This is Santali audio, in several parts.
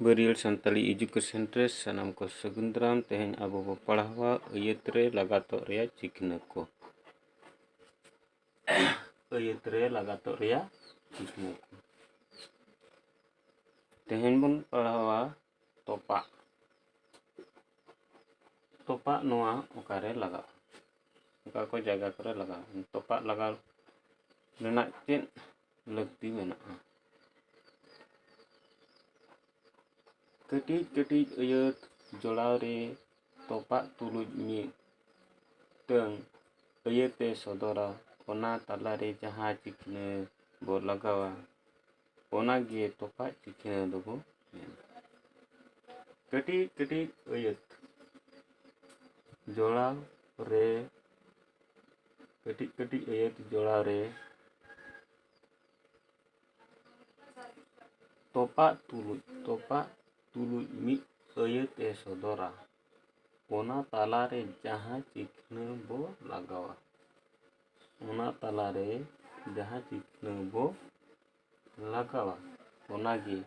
ᱵᱟᱹᱨᱤᱭᱟᱹᱲ ᱥᱟᱱᱛᱟᱲᱤ ᱮᱰᱩᱠᱮᱥᱚᱱ ᱨᱮ ᱥᱟᱱᱟᱢ ᱠᱚ ᱥᱟᱹᱜᱩᱱ ᱫᱟᱨᱟᱢ ᱛᱮᱦᱮᱧ ᱟᱵᱚ ᱵᱚ ᱯᱟᱲᱦᱟᱣᱟ ᱟᱹᱭᱟᱹᱛ ᱨᱮ ᱞᱟᱜᱟᱛᱚᱜ ᱨᱮᱭᱟᱜ ᱪᱤᱠᱱᱟᱹ ᱠᱚ ᱟᱹᱭᱟᱹᱛ ᱨᱮ ᱞᱟᱜᱟᱛᱚᱜ ᱨᱮᱭᱟᱜ ᱪᱤᱠᱱᱟᱹ ᱠᱚ ᱛᱮᱦᱮᱧ ᱵᱚᱱ ᱯᱟᱲᱦᱟᱣᱟ ᱛᱚᱯᱟᱜ ᱛᱚᱯᱟᱜ ᱱᱚᱣᱟ ᱚᱠᱟᱨᱮ ᱞᱟᱜᱟᱜᱼᱟ ᱚᱠᱟ ᱠᱚ ᱡᱟᱭᱜᱟ ᱠᱚᱨᱮ ᱞᱟᱜᱟᱜᱼᱟ ᱛᱚᱯᱟᱜ ᱞᱟᱜᱟᱣ ᱨᱮᱱᱟᱜ ᱪᱮᱫ ᱞᱟᱹᱠᱛᱤ ᱢᱮᱱᱟᱜᱼᱟ ᱠᱟᱹᱴᱤᱡ ᱠᱟᱹᱴᱤᱡ ᱟᱹᱭᱟᱹᱛ ᱡᱚᱲᱟᱣ ᱨᱮ ᱛᱚᱯᱟᱜ ᱛᱩᱞᱩᱡ ᱢᱤᱫ ᱢᱤᱫᱴᱟᱹᱝ ᱟᱹᱭᱟᱹᱛᱮ ᱥᱚᱫᱚᱨᱟ ᱚᱱᱟ ᱛᱟᱞᱟᱨᱮ ᱡᱟᱦᱟᱸ ᱪᱤᱠᱱᱟᱹ ᱵᱚ ᱞᱟᱜᱟᱣᱟ ᱚᱱᱟ ᱜᱮ ᱛᱚᱯᱟᱜ ᱪᱤᱠᱟᱹ ᱫᱚᱵᱚ ᱢᱮᱱᱟ ᱠᱟᱹᱴᱤᱡ ᱠᱟᱹᱴᱤᱡ ᱟᱹᱭᱟᱹᱛ ᱡᱚᱲᱟᱣ ᱨᱮ ᱠᱟᱹᱴᱤᱡ ᱠᱟᱹᱴᱤᱡ ᱟᱹᱭᱟᱹᱛ ᱡᱚᱲᱟᱣ ᱨᱮ ᱛᱚᱯᱟᱜ ᱛᱩᱞᱩᱡ ᱛᱚᱯᱟᱜ ᱛᱩᱞᱩᱡ ᱢᱤᱫ ᱟᱹᱭᱟᱹᱛ ᱮ ᱥᱚᱫᱚᱨᱟ ᱚᱱᱟ ᱛᱟᱞᱟ ᱨᱮ ᱡᱟᱦᱟᱸ ᱪᱤᱠᱷᱱᱟᱹ ᱵᱚ ᱞᱟᱜᱟᱣᱟ ᱚᱱᱟ ᱛᱟᱞᱟ ᱨᱮ ᱡᱟᱦᱟᱸ ᱪᱤᱠᱷᱱᱟᱹ ᱵᱚ ᱞᱟᱜᱟᱣᱟ ᱚᱱᱟ ᱜᱮ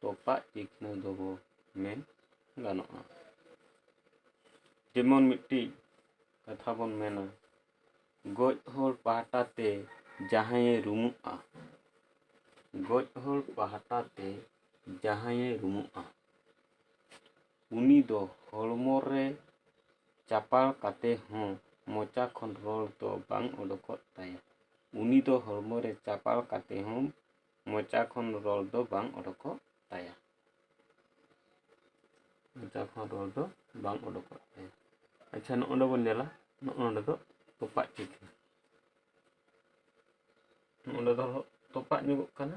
ᱛᱚᱯᱟᱜ ᱪᱤᱠᱷᱱᱟᱹ ᱫᱚ ᱵᱚ ᱢᱮᱱ ᱜᱟᱱᱚᱜᱼᱟ ᱡᱮᱢᱚᱱ ᱢᱤᱫᱴᱤᱡ ᱠᱟᱛᱷᱟ ᱵᱚᱱ ᱢᱮᱱᱟ ᱜᱚᱡ ᱦᱚᱲ ᱯᱟᱦᱴᱟ ᱛᱮ ᱡᱟᱦᱟᱸᱭᱮ ᱨᱩᱢᱩᱜᱼᱟ ᱜᱚᱡ ᱦᱚᱲ ᱯᱟᱦᱴᱟ ᱛᱮ ᱡᱟᱦᱟᱸᱭᱮ ᱨᱩᱢᱩᱜᱼᱟ ᱩᱱᱤ ᱫᱚ ᱦᱚᱲᱢᱚ ᱨᱮ ᱪᱟᱯᱟᱲ ᱠᱟᱛᱮ ᱦᱚᱸ ᱢᱚᱪᱟ ᱠᱷᱚᱱ ᱨᱚᱲ ᱫᱚ ᱵᱟᱝ ᱚᱰᱚᱠᱚᱜ ᱛᱟᱭᱟ ᱩᱱᱤ ᱫᱚ ᱦᱚᱲᱢᱚ ᱨᱮ ᱪᱟᱯᱟᱲ ᱠᱟᱛᱮ ᱦᱚᱸ ᱢᱚᱪᱟ ᱠᱷᱚᱱ ᱨᱚᱲ ᱫᱚ ᱵᱟᱝ ᱚᱰᱚᱠᱚᱜ ᱛᱟᱭᱟ ᱢᱚᱪᱟ ᱠᱷᱚᱱ ᱨᱚᱲ ᱫᱚ ᱵᱟᱝ ᱚᱰᱚᱠᱚᱜ ᱛᱟᱭᱟ ᱟᱪᱪᱷᱟ ᱱᱚᱜᱼᱚ ᱱᱚᱸᱰᱮ ᱵᱚᱱ ᱧᱮᱞᱟ ᱱᱚᱜᱼᱚ ᱱᱚᱸᱰᱮ ᱫᱚ ᱛᱚᱯᱟᱜ ᱪᱤᱠᱟᱹ ᱱᱚᱸᱰᱮ ᱫᱚ ᱛᱚᱯᱟᱜ ᱧᱚᱜᱚᱜ ᱠᱟᱱᱟ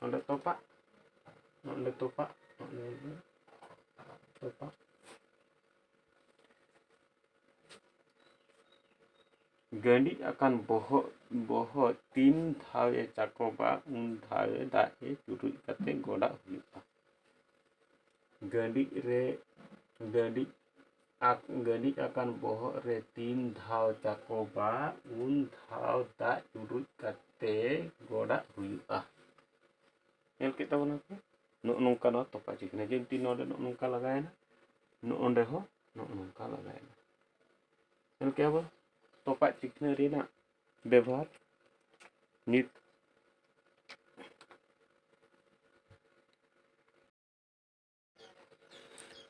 ᱱᱚᱰᱮ ᱛᱚᱯᱟᱜ ᱱᱚᱰᱮ ᱛᱚᱯᱟᱜ ᱱᱚᱰᱮ ᱛᱚᱯᱟᱜ ᱜᱟᱺᱰᱤᱡ ᱟᱠᱟᱱ ᱵᱚᱦᱚᱜ ᱵᱚᱦᱚᱜ ᱛᱤᱱ ᱫᱷᱟᱣ ᱮ ᱪᱟᱠᱚᱵᱟ ᱩᱱ ᱫᱷᱟᱣ ᱮ ᱫᱟᱜ ᱮ ᱪᱩᱨᱩᱡ ᱠᱟᱛᱮ ᱜᱚᱰᱟᱜ ᱦᱩᱭᱩᱜᱼᱟ ᱜᱟᱺᱰᱤᱡ ᱨᱮ ᱜᱟᱺᱰᱤᱡ ᱟᱠ ᱜᱟᱹᱞᱤᱡ ᱟᱠᱟᱱ ᱵᱚᱦᱚᱜ ᱨᱮ ᱛᱤᱱ ᱫᱷᱟᱣ ᱪᱟᱠᱚᱵᱟ ᱩᱱ ᱫᱷᱟᱣ ᱫᱟᱜ ᱪᱩᱨᱩᱡ ᱠᱟᱛᱮ ᱜᱚᱰᱟᱜ ᱦᱩᱭᱩᱜᱼᱟ ᱧᱮᱞ ᱠᱮᱫ ᱛᱟᱵᱚᱱᱟ ᱯᱮ ᱱᱚᱜᱼᱚ ᱱᱚᱝᱠᱟ ᱱᱚᱣᱟ ᱛᱚᱯᱟᱜ ᱪᱤᱠᱟᱹ ᱠᱟᱱᱟ ᱡᱮᱢᱛᱤ ᱱᱚᱰᱮ ᱱᱚᱜᱼᱚ ᱱᱚᱝᱠᱟ ᱞᱟᱜᱟᱣᱮᱱᱟ ᱱᱚᱜᱼᱚ ᱱᱚᱰᱮ ᱦᱚᱸ ᱱᱚᱜᱼᱚ ᱱᱚᱝᱠᱟ ᱞᱟᱜᱟᱣᱮᱱᱟ ᱧᱮᱞ ᱠᱮᱫᱟ ᱵᱚᱱ ᱛᱚᱯᱟᱜ ᱪᱤᱠᱷᱱᱟᱹ ᱨᱮᱱᱟᱜ ᱵᱮᱵᱚᱦᱟᱨ ᱱᱤᱛ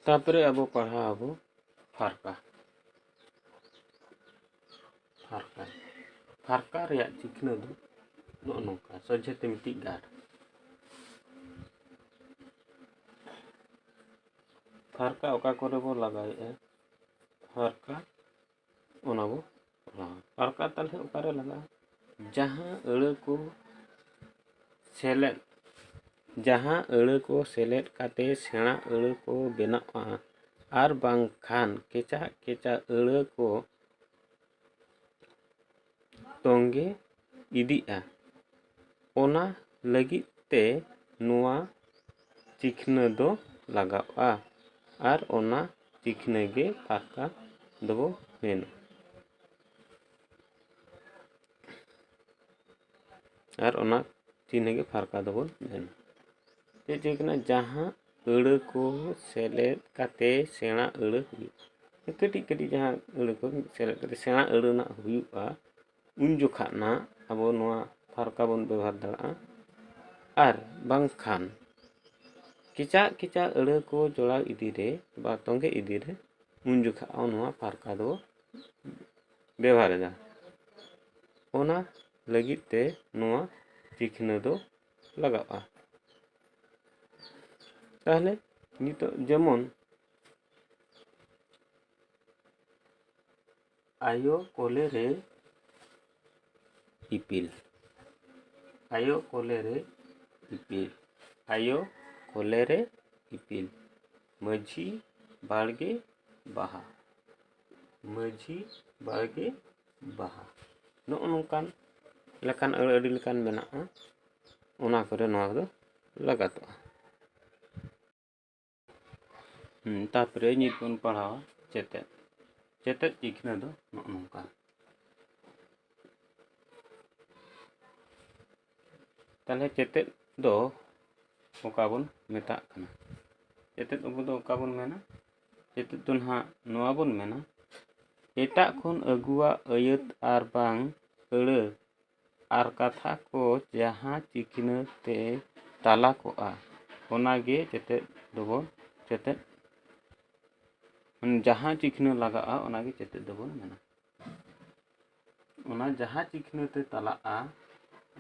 ᱛᱟᱯᱚᱨᱮ ᱟᱵᱚ ᱯᱟᱲᱦᱟᱣ ᱟᱵᱚ ᱯᱷᱟᱨᱠᱟ ᱯᱷᱟᱨᱠᱟ ᱯᱷᱟᱨᱠᱟ ᱨᱮᱭᱟᱜ ᱪᱤᱠᱷᱱᱟᱹ ᱫᱚ ᱱᱚᱜᱼᱚ ᱱᱚᱝᱠᱟ ᱥᱚᱡᱷᱮ ᱛᱮ ᱢᱤᱫᱴᱤᱡ ᱜᱟᱨ ᱯᱷᱟᱨᱠᱟ ᱚᱠᱟ ᱠᱚᱨᱮ ᱵᱚ ᱞᱟᱜᱟᱣᱮᱫᱼᱟ ᱯᱷᱟᱨᱠᱟ ᱚᱱᱟ ᱵᱚ ᱚᱞᱟ ᱛᱟᱨᱠᱟ ᱛᱟᱞᱦᱮ ᱚᱠᱟᱨᱮ ᱞᱟᱜᱟᱜᱼᱟ ᱡᱟᱦᱟᱸ ᱟᱹᱲᱟᱹ ᱠᱚ ᱥᱮᱞᱮᱫ ᱡᱟᱦᱟᱸ ᱟᱹᱲᱟᱹ ᱠᱚ ᱥᱮᱞᱮᱫ ᱠᱟᱛᱮ ᱥᱮᱬᱟ ᱟᱹᱲᱟᱹ ᱠᱚ ᱵᱮᱱᱟᱜᱼᱟ ᱟᱨ ᱵᱟᱝᱠᱷᱟᱱ ᱠᱮᱪᱟᱜ ᱠᱮᱪᱟᱜ ᱟᱹᱲᱟᱹ ᱠᱚ ᱛᱚᱸᱜᱮ ᱤᱫᱤᱜᱼᱟ ᱚᱱᱟ ᱞᱟᱹᱜᱤᱫ ᱛᱮ ᱱᱚᱣᱟ ᱪᱤᱠᱷᱱᱟᱹ ᱫᱚ ᱞᱟᱜᱟᱜᱼᱟ ᱟᱨ ᱚᱱᱟ ᱪᱤᱠᱷᱱᱟᱹ ᱜᱮ ᱯᱷᱟᱨᱠᱟ ᱫᱚ ᱢᱮᱱᱟ ᱟᱨ ᱚᱱᱟ ᱪᱤᱱᱦᱟᱹ ᱜᱮ ᱯᱷᱟᱨᱠᱟ ᱫᱚᱵᱚᱱ ᱢᱮᱱᱟ ᱪᱮᱫ ᱪᱤᱠᱷᱱᱟᱹ ᱡᱟᱦᱟᱸ ᱟᱹᱲᱟᱹ ᱠᱚ ᱥᱮᱞᱮᱫ ᱠᱟᱛᱮ ᱥᱮᱬᱟ ᱟᱹᱲᱟᱹ ᱦᱩᱭᱩᱜᱼᱟ ᱠᱟᱹᱴᱤᱡ ᱠᱟᱹᱴᱤᱡ ᱡᱟᱦᱟᱸ ᱟᱹᱲᱟᱹ ᱠᱚ ᱥᱮᱞᱮᱫ ᱠᱟᱛᱮ ᱥᱮᱬᱟ ᱟᱹᱲᱟᱹ ᱨᱮᱱᱟᱜ ᱦᱩᱭᱩᱜᱼᱟ ᱩᱱ ᱡᱚᱠᱷᱟᱜ ᱱᱟᱜ ᱟᱵᱚ ᱱᱚᱣᱟ ᱛᱷᱟᱨᱠᱟ ᱵᱚᱱ ᱵᱮᱵᱚᱦᱟᱨ ᱫᱟᱲᱮᱭᱟᱜᱼᱟ ᱟᱨ ᱵᱟᱝᱠᱷᱟᱱ ᱠᱮᱪᱟᱜ ᱠᱮᱪᱟᱜ ᱟᱹᱲᱟᱹ ᱠᱚ ᱡᱚᱲᱟᱣ ᱤᱫᱤ ᱨᱮ ᱵᱟ ᱛᱚᱸᱜᱮ ᱤᱫᱤ ᱨᱮ ᱩᱱ ᱡᱚᱠᱷᱟᱜ ᱦᱚᱸ ᱱᱚᱣᱟ ᱛᱷᱟᱨᱠᱟ ᱫᱚ ᱵᱮᱵᱚᱦᱟᱨᱮᱫᱟ ᱚᱱᱟ ᱞᱟᱹᱜᱤᱫ ᱛᱮ ᱱᱚᱣᱟ ᱪᱤᱠᱷᱱᱟᱹ ᱫᱚ ᱞᱟᱜᱟᱜᱼᱟ ᱛᱟᱦᱚᱞᱮ ᱱᱤᱛᱚᱜ ᱡᱮᱢᱚᱱ ᱟᱭᱳ ᱠᱚᱞᱮ ᱨᱮ ᱤᱯᱤᱞ ᱟᱭᱳ ᱠᱚᱞᱮ ᱨᱮ ᱤᱯᱤᱞ ᱟᱭᱳ ᱠᱚᱞᱮ ᱨᱮ ᱤᱯᱤᱞ ᱢᱟᱹᱡᱷᱤ ᱵᱟᱲᱜᱮ ᱵᱟᱦᱟ ᱢᱟᱹᱡᱷᱤ ᱵᱟᱲᱜᱮ ᱵᱟᱦᱟ ᱱᱚᱜᱼᱚ ᱱᱚᱝᱠᱟᱱ ᱞᱮᱠᱟᱱ ᱟᱹᱰᱤ ᱞᱮᱠᱟᱱ ᱢᱮᱱᱟᱜᱼᱟ ᱚᱱᱟ ᱠᱚᱨᱮ ᱱᱚᱣᱟ ᱠᱚᱫᱚ ᱞᱟᱜᱟᱛᱚᱜᱼᱟ ᱛᱟᱨᱯᱚᱨᱮ ᱱᱤᱛ ᱵᱚᱱ ᱯᱟᱲᱦᱟᱣᱟ ᱪᱮᱛᱮᱫ ᱪᱮᱛᱮᱫ ᱪᱤᱠᱷᱱᱟᱹ ᱫᱚ ᱱᱚᱜᱼᱚ ᱱᱚᱝᱠᱟ ᱛᱟᱦᱚᱞᱮ ᱪᱮᱛᱮᱫ ᱫᱚ ᱚᱠᱟ ᱵᱚᱱ ᱢᱮᱛᱟᱜ ᱠᱟᱱᱟ ᱪᱮᱛᱮᱫ ᱟᱵᱚ ᱫᱚ ᱚᱠᱟ ᱵᱚᱱ ᱢᱮᱱᱟ ᱱᱤᱛᱚᱜ ᱫᱚ ᱱᱟᱦᱟᱜ ᱱᱚᱣᱟ ᱵᱚᱱ ᱢᱮᱱᱟ ᱮᱴᱟᱜ ᱠᱷᱚᱱ ᱟᱹᱜᱩᱣᱟᱜ ᱟᱹᱭᱟᱹᱛ ᱟᱨ ᱵᱟᱝ ᱟᱹᱲᱟᱹ ᱟᱨ ᱠᱟᱛᱷᱟ ᱠᱚ ᱡᱟᱦᱟᱸ ᱪᱤᱠᱤᱱᱟᱹ ᱛᱮ ᱛᱟᱞᱟ ᱠᱚᱜᱼᱟ ᱚᱱᱟ ᱜᱮ ᱪᱮᱛᱮᱫ ᱫᱚᱵᱚᱱ ᱪᱮᱛᱮᱫ ᱡᱟᱦᱟᱸ ᱪᱤᱠᱤᱱᱟᱹ ᱞᱟᱜᱟᱜᱼᱟ ᱚᱱᱟ ᱜᱮ ᱪᱮᱛᱮᱫ ᱫᱚᱵᱚᱱ ᱢᱮᱱᱟ ᱚᱱᱟ ᱡᱟᱦᱟᱸ ᱪᱤᱠᱷᱱᱟᱹ ᱛᱮ ᱛᱟᱞᱟᱜᱼᱟ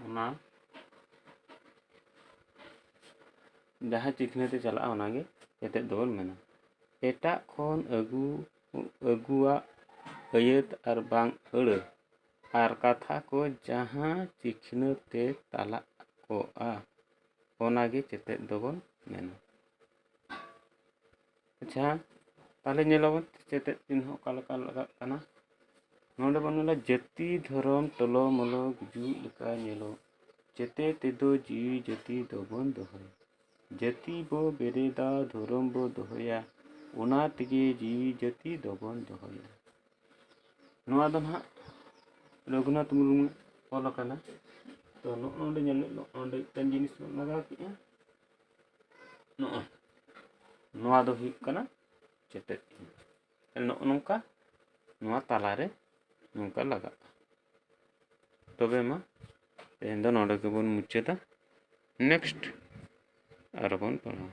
ᱚᱱᱟ ᱡᱟᱦᱟᱸ ᱪᱤᱠᱷᱱᱟᱹ ᱛᱮ ᱪᱟᱞᱟᱜᱼᱟ ᱚᱱᱟᱜᱮ ᱮᱛᱮᱫ ᱫᱚᱵᱚᱱ ᱢᱮᱱᱟ ᱮᱴᱟᱜ ᱠᱷᱚᱱ ᱟᱹᱜᱩ ᱟᱹᱜᱩᱣᱟᱜ ᱟᱹᱭᱟᱹᱛ ᱟᱨ ᱵᱟᱝ ᱟᱹᱲᱟᱹ ᱟᱨ ᱠᱟᱛᱷᱟ ᱠᱚ ᱡᱟᱦᱟᱸ ᱪᱤᱠᱷᱱᱟᱹ ᱛᱮ ᱛᱟᱞᱟ ᱠᱚᱜᱼᱟ ᱚᱱᱟᱜᱮ ᱪᱮᱛᱮᱫ ᱫᱚᱵᱚᱱ ᱢᱮᱱᱟ ᱟᱪᱪᱷᱟ ᱛᱟᱦᱚᱞᱮ ᱧᱮᱞ ᱟᱵᱚᱱ ᱥᱮᱪᱮᱫ ᱪᱤᱱᱦᱟᱹ ᱚᱠᱟ ᱞᱮᱠᱟ ᱞᱟᱜᱟᱜ ᱠᱟᱱᱟ ᱱᱚᱰᱮ ᱵᱚᱱ ᱧᱮᱞᱟ ᱡᱟᱹᱛᱤ ᱫᱷᱚᱨᱚᱢ ᱴᱚᱞᱚ ᱢᱚᱞᱚ ᱜᱩᱡᱩᱜ ᱞᱮᱠᱟ ᱧᱮᱞᱚᱜ ᱡᱮᱛᱮ ᱛᱮᱫᱚ ᱡᱤᱣᱤ ᱡᱟᱹᱛᱤ ᱫᱚᱵᱚᱱ ᱫᱚᱦᱚᱭ ᱡᱟᱹᱛᱤ ᱵᱚ ᱵᱮᱨᱮᱫᱟ ᱫᱷᱚᱨᱚᱢ ᱵᱚ ᱫᱚᱦᱚᱭᱟ ᱚᱱᱟ ᱛᱮᱜᱮ ᱡᱤᱣᱤ ᱡᱟᱹᱛᱤ ᱫᱚᱵᱚᱱ ᱫᱚᱦᱚᱭᱟ ᱱᱚᱣᱟ ᱫᱚ ᱱᱟᱦᱟᱜ ᱨᱚᱜᱷᱩᱱᱟᱛᱷ ᱢᱩᱨᱢᱩ ᱚᱞ ᱟᱠᱟᱱᱟ ᱛᱚ ᱱᱚᱜᱼᱚ ᱱᱚᱰᱮ ᱧᱮᱞ ᱱᱚᱜᱼᱚ ᱱᱚᱰᱮ ᱢᱤᱫᱴᱮᱱ ᱡᱤᱱᱤᱥ ᱵᱚᱱ ᱞᱟᱜᱟᱣ ᱠᱮᱜᱼᱟ ᱱᱚᱜᱼᱚ ᱱᱚᱣᱟ ᱫᱚ ᱦᱩᱭᱩᱜ ᱠᱟᱱᱟ ᱪᱮᱴᱮᱡ ᱱᱚᱜᱼᱚ ᱱᱚᱝᱠᱟ ᱱᱚᱣᱟ ᱛᱟᱞᱟᱨᱮ ᱱᱚᱝᱠᱟ ᱞᱟᱜᱟᱜᱼᱟ ᱛᱚᱵᱮ ᱢᱟ ᱛᱮᱦᱮᱧ ᱫᱚ ᱱᱚᱰᱮ ᱜᱮᱵᱚᱱ ᱢᱩᱪᱟᱹᱫᱟ ᱱᱮᱠᱥᱴ ᱟᱨᱚ ᱵᱚᱱ ᱯᱟᱲᱦᱟᱣᱟ